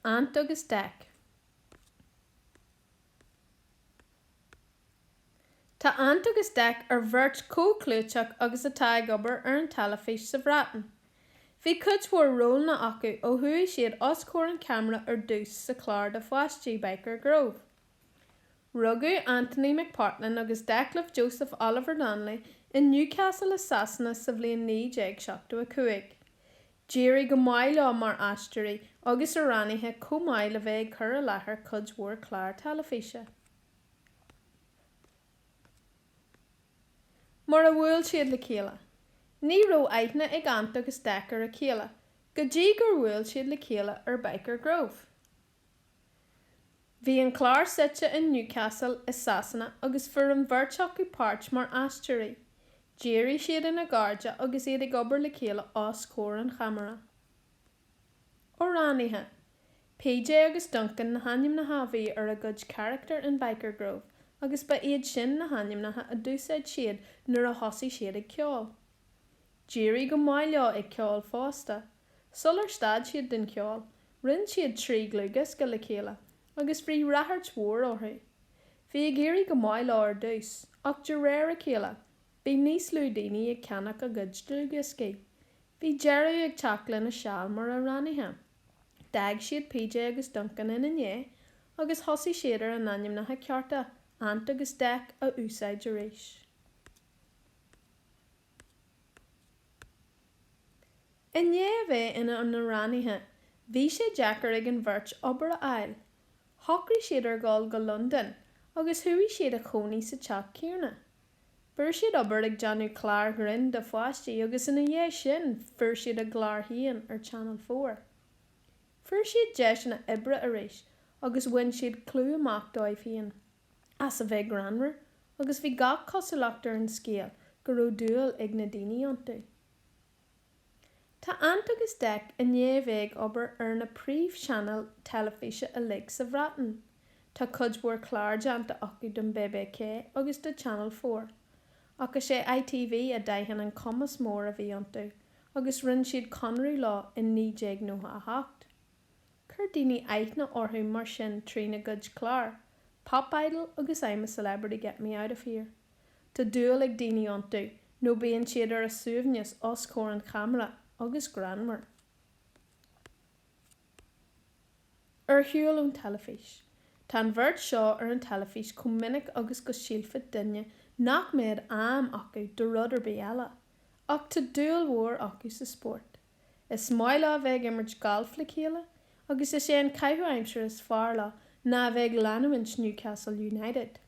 Ant agus Dec. Tá Ant agus Dec ar bheirt chomh clúiteach agus atá ag obair ar an teilifís sa Bhreatain. Bhí cuid mhór rólanna acu ó chuaigh siad os comhair an ceamara ar dtús sa chlár do pháistí Byker Grove. Rugadh Anthony McPartlan agus Declan Joseph Oliver Donnelly in Newcastle i Sasana sa bhliain 1975. D'éirigh go maith leo mar aisteoirí agus amhránaithe chomh maith le bheith ag cur i láthair cuid mhór clár teilifíse. Mar a bhuail siad le chéile. Ní raibh aithne ag Ant agus Dec ar a chéile go dtí gur bhuail siad le chéile ar Byker Grove. Bhí an clár suite in Newcastle i Sasana agus fuair an bheirt acu páirt mar aisteoirí. D'éirigh siad ina gcairde agus iad ag obair le chéile os comhair an cheamara. Amhránaithe, PJ agus Duncan na hainmneacha a bhí ar a gcuid carachtar in Byker Grove agus ba iad sin na hainmneacha a d'úsáid siad nuair a thosaigh siad ag ceol. D'éirigh go maith leo ag ceol fosta. Sular stad siad den cheol, rinne siad trí dhlúthdhiosca le chéile agus bhí rachairt mhór orthu. Bhí ag éirí go maith leo ar dtús ach de réir a chéile, bhí níos lú daoine ag ceannach a gcuid dlúthdhioscaí. Bhí deireadh ag teacht lena seal mar amhránaithe. D'fhág siad PJ agus Duncan ina ndiaidh agus thosaigh siad ar a n-ainmneacha cearta, Ant agus Dec, a úsáid arís. I ndiaidh a bheith ina n-amhránaithe, bhí sé deacair ag an bheirt obair a fháil. Shocraigh siad ar dhul go Londain agus chuaigh siad a chónaí sa teach céanna. Fuair siad obair ag déanamh cláir ghrinn do pháistí agus ina dhiaidh sin fuair siad a gclár féin ar Channel Four. Fuair siad deiseanna oibre arís agus bhain siad clú amach dóibh féin. as a bheith greannmhar agus bhí gach cosúlacht ar an scéal go raibh dúil ag na daoine iontu. Tá Ant agus Dec i ndiaidh a bheith ag obair ar na príomhchainéil teilifíse uilig sa Bhreatain, tá cuid mhór clár déanta acu don BBC agus do Channel Four, ach is é ITV a d'aithin an cumas mór a bhí iontu agus rinne siad conradh leo i 1998. Chuir daoine aithne orthu mar sin trína gcuid clár, Pop Idol agus I'm a Celebrity Get Me Out of Here. Tá dúil ag daoine iontu nó bíonn siad ar a suaimhneas os comhair an cheamara agus greannmhar. Ar shiúl ón teilifís. Tá an bheirt seo ar an teilifís chomh minic agus go sílfeadh duine nach mbeadh am acu do rud ar bith eile. Ach tá dúil mhór acu sa spórt. Is maith leo a bheith ag imirt gailf le chéile agus is é an caitheamh aimsire is fearr leo ná a bheith ag leanúint Newcastle United.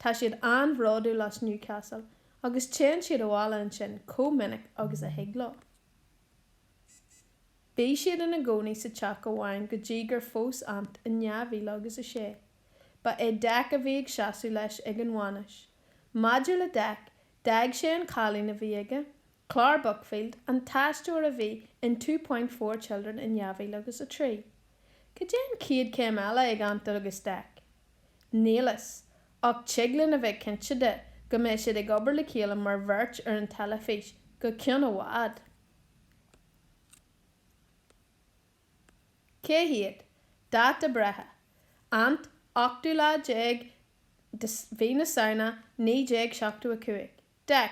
Tá siad an-bhródúil as Newcastle agus téann siad abhaile ansin chomh minic agus a thig leo. Bhí siad ina gcónaí sa teach amháin go dtí gur phós Ant in dhá mhíle agus a sé. Ba é Dec a bhí ag seasamh leis ag an bhainis. Maidir le Dec, d'fhág sé an cailín a bhí aige Clare Buckfield, an t-aisteoir a bhí in Two Point Four Children in 2000 agus 3. Cad é an chéad chéim eile ag Ant agus Dec? Níl a fhios, ach tig linn a bheith cinnte de go mbeidh siad ag obair le chéile mar bheirt ar an teilifís go ceann i bhfad. Cé hiad? Dáta breithe, Ant, ochtú lá déag de Mhí na Samhna 1975. Dec,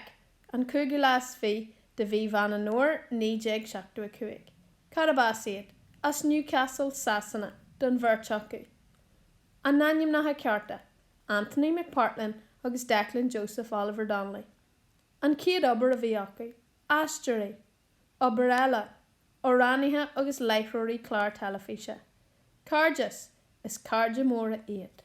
An cúigiú lá is fiche de mhí Mheán an Fhómhair, 1975. Cárb as iad? As Newcastle, Sasana, don bheirt acu. A n-ainmneacha cearta, Anthony McPartlin agus Declan Joseph Oliver Donnelly. An chéad obair a bhí acu? Aisteoirí. Obair eile? Amhránaithe agus láithreoirí clár teilifíse. Cairdeas, Is cairde móra iad.